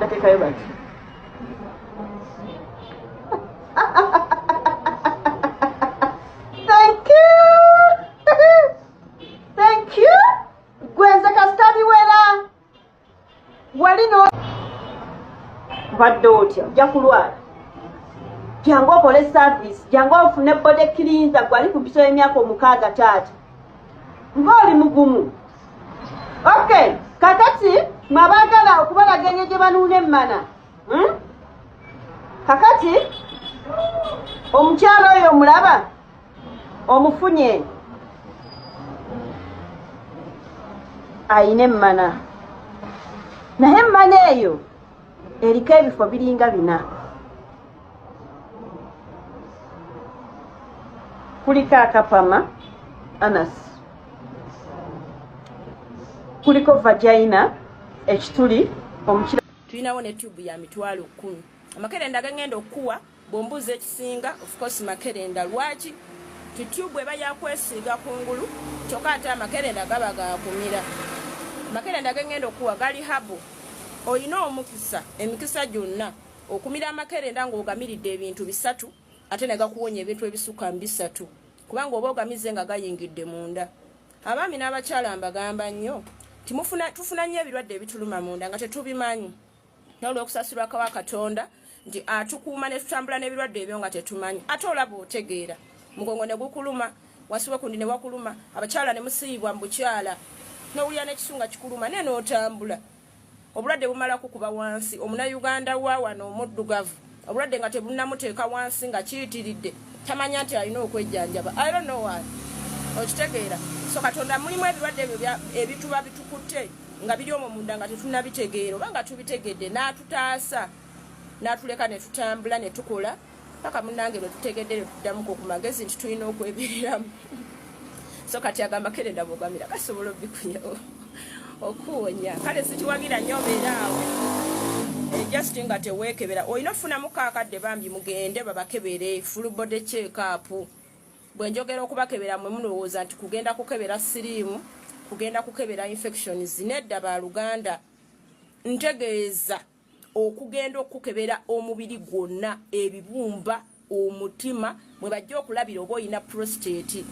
batekayo bati Thank you. Thank you. Gwenze kasita biwera. Wali no Badde otya ojja kulwala. Jangu okole service, jangu ofune body cleanser gwali ku biso y'emyaka omukaaga taata. ng'oli mugumu ok kakati mwabaagala okubalaga enyo gye banuuna emmana hmm? kakati omukyalo oyo omulaba omufunye ayina emmana naye emmana eyo eriko ebifo biringa bina kuliko akapama anas kuliko vagina ekituli omukira tulinawo ne tubu ya mitwalo kumi amakerenda gangenda okukuwa bwombuuza ekisinga ofcourse makerenda lwaki tutubu eba yakwesiiga kungulu kyokka ate amakerenda gaba gakumira amakerenda gangenda okukuwa gali habo olina omukisa emikisa gyonna Okumira amakerenda ng'ogamiridde ebintu bisatu ate ne gakuwonya ebintu ebisukka mu bisatu kubanga oba ogamize nga gayingidde munda. Abaami n'abakyala mbagamba nnyo nti tufuna nnyo ebirwadde ebituluma munda nga tetubimanyi naye olw'okusasirwa kawa Katonda nti atukuuma ne tutambula n'ebirwadde ebyo nga tetumanyi ate olaba otegeera mugongo ne gukuluma wasiwa kundi ne wakuluma abakyala ne musiyibwa mu bukyala n'owulira n'ekisunga kikuluma naye n'otambula obulwadde bumala kukuba wansi omunayuganda wa wano omuddugavu obulwadde nga tebunnamuteeka wansi nga kiyitiridde tamanya nti alina okwejjanjaba i don't know why okitegeera so katonda mulimu ebirwadde ebyo ebituba bitukutte nga biri omwo munda nga tetunabitegeera oba nga tubitegedde n'atutaasa n'atuleka ne tutambula ne tukola paka munange lwetutegedde lwetuddamuko ku magezi nti tulina okwebereramu so kati agamba kerenda bwogamira kasobola obikuya okuwonya kale sikiwagira nyo obeeraawo eh, just nga teweekebera olina okufunamu kakadde bambi mugende babakebere full body check up bwenjogera okubakebera mwe mulowooza nti kugenda kukebera siriimu kugenda kukebera infections nedda baluganda ntegeeza okugenda okukebera omubiri gwonna ebibumba omutima mwe bajja okulabira oba olina prostate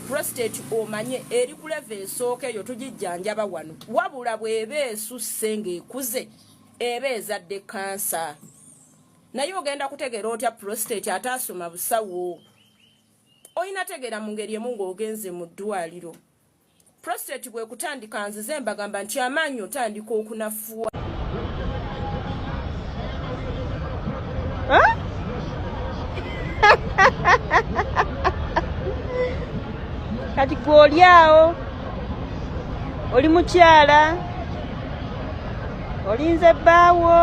prostate omanye eri ku leva esooka eyo tugijjanjaba wano wabula bw'eba esusse ng'ekuze eba ezadde kansa naye ogenda kutegeera otya prostate ate asoma busawo olina tegeera mu ngeri emu ng'ogenze mu ddwaliro prostate bwekutandika nzize mbagamba nti amaanyi otandika okunafuwa kati gwe oli awo oli mukyala olinze bbaawo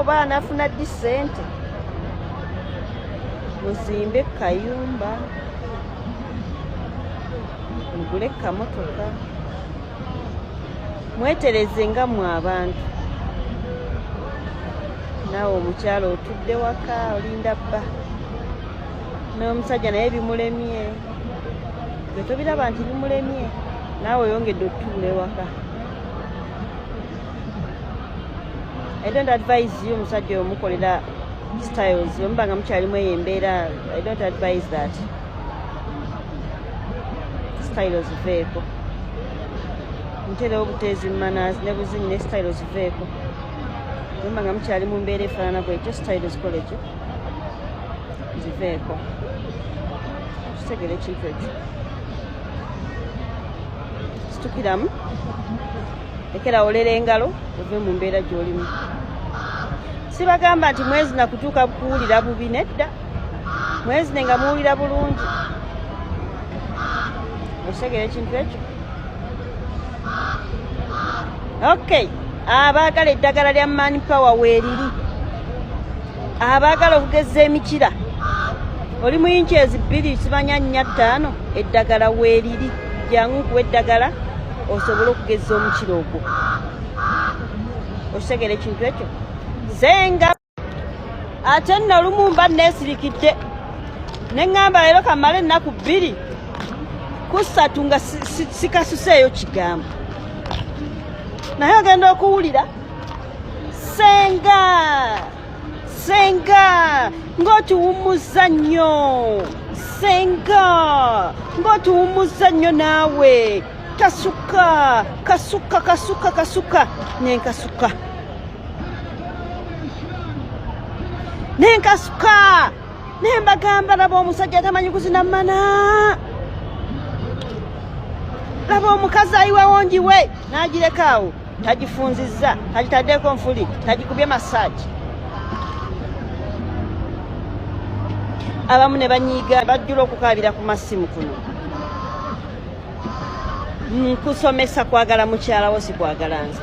oba anafuna ddi ssente muzimbe kayumba mugule kamotoka mwetereze nga mwe abantu naawe omukyalo otudde waka olinda bba n'omusajja naye bimulemye gwe tobiraba nti bimulemye naawe oyongedde otuula ewaka i don't advise you omusajja omukolera styles omuba nga mukyalimu eyo embeera i don't advise that style ziveeko nterewo buteezi mumanazi ne buzinyi ne style ziveeko nomba nga mukyali mu mbeera efaanana bwekyo style zikole kyo ziveeko kitegere ekintu ekyo situkiramu ekera olera engalo ove mu mbeera gy'olimu sibagamba nti mwezi nakutuuka kuwulira bubi nedda mwezine nga muwulira bulungi okitegera ekintu ekyo ok abaagala eddagala lya man power weeriri abaagala okugeza emikira oli muyinki ezi bbiri sibanya nnya ttaano eddagala weeriri jangu nkuwa eddagala osobole okugeza omukira ogwo okitegera ekintu ekyo zenga ate nno olumu mba neesirikidde ne ŋŋamba leero kamala ennaku bbiri kusatu nga sikasuseeyo kigambo naye ogenda okuwulira senga senga ng'otuwummuzza nnyo senga ng'otuwummuzza nnyo naawe kasuka kasuka kasuka kasuka nenkasuka naye nkasuka naye mbagamba laba omusajja atamanyi kuzina mana laba omukazi ayiwawo njiwe n'agireka awo tagifunzizza tagitaddeko nfuli tagikubye masaagi abamu ne banyiiga bajjula okukaabira ku masimu kuno nkusomesa kwagala mukyalawo sikwagala nze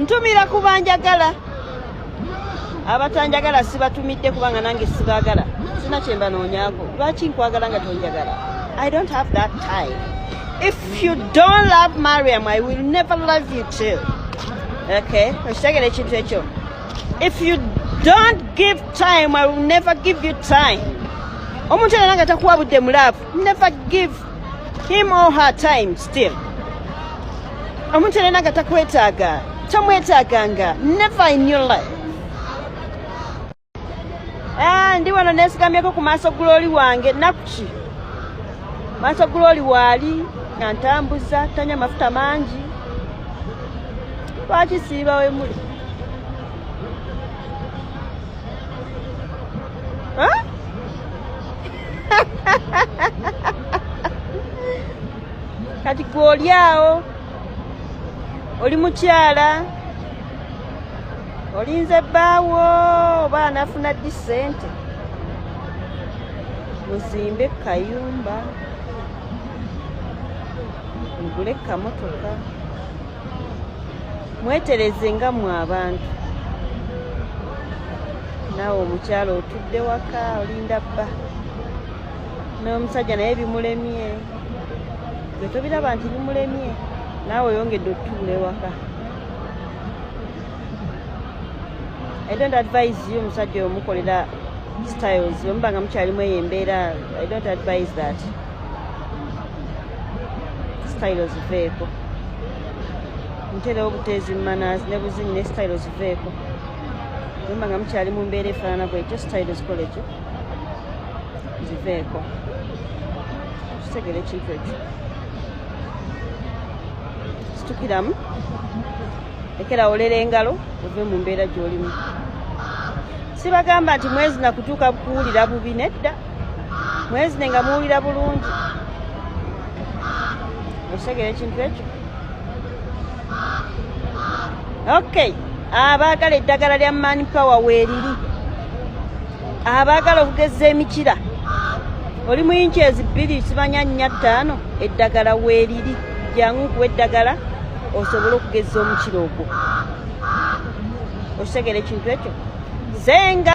ntumira ku banjagala abatanjagala sibatumidde kubanga nange sibagala sina kyembanoonyako lwaki nkwagala nga tonjagala i don't have that time if you don't love mariam i will never love you too okay okitegera ekintu ekyo if you don't give time i will never give you time omuntu era nanga takuwa budde mulaavu never give him all her time still omuntu era naga takwetaaga tamwetaaganga never in your life ah, ndi wano nesigamyeko ku maaso guloli wange nakuki maaso guloli waali nga ntambuza tanya mafuta mangi lwaki siiba wemuli huh? kati gwe oli awo oli mukyala olinze bbaawo oba anafuna ddi ssente muzimbe kayumba mugule kamotoka mwetereze nga mwe abantu naawe omukyalo otudde waka olinda bba n'omusajja naye bimulemye gwe tobiraba nti bimulemye naawe oyongedde okutubula ewaka i don't advise you omusajja omukolera styles omuba nga mukyalimu eyo embeera i don't advise that style ziveeko nterewo buteezi mumanazi ne buzinyi ne style ziveeko nomba nga mukyali mu mbeera efaanana bwetyo style zikoleki ziveeko kitegera ekintu ekyo situkiramu ekera olera engalo ove mu mbeera gyolimu sibagamba nti mwezi nakutuuka kuwulira bubi nedda mwezine nga muwulira bulungi okitegera ekintu ekyo ok abaagala eddagala lya man power weeriri abaagala okugeza emikira oli mu inki ezi bbiri simanya nnya ttaano eddagala weeriri jangu nkuwa eddagala osobole okugeza omukira ogwo okitegera ekintu ekyo zenga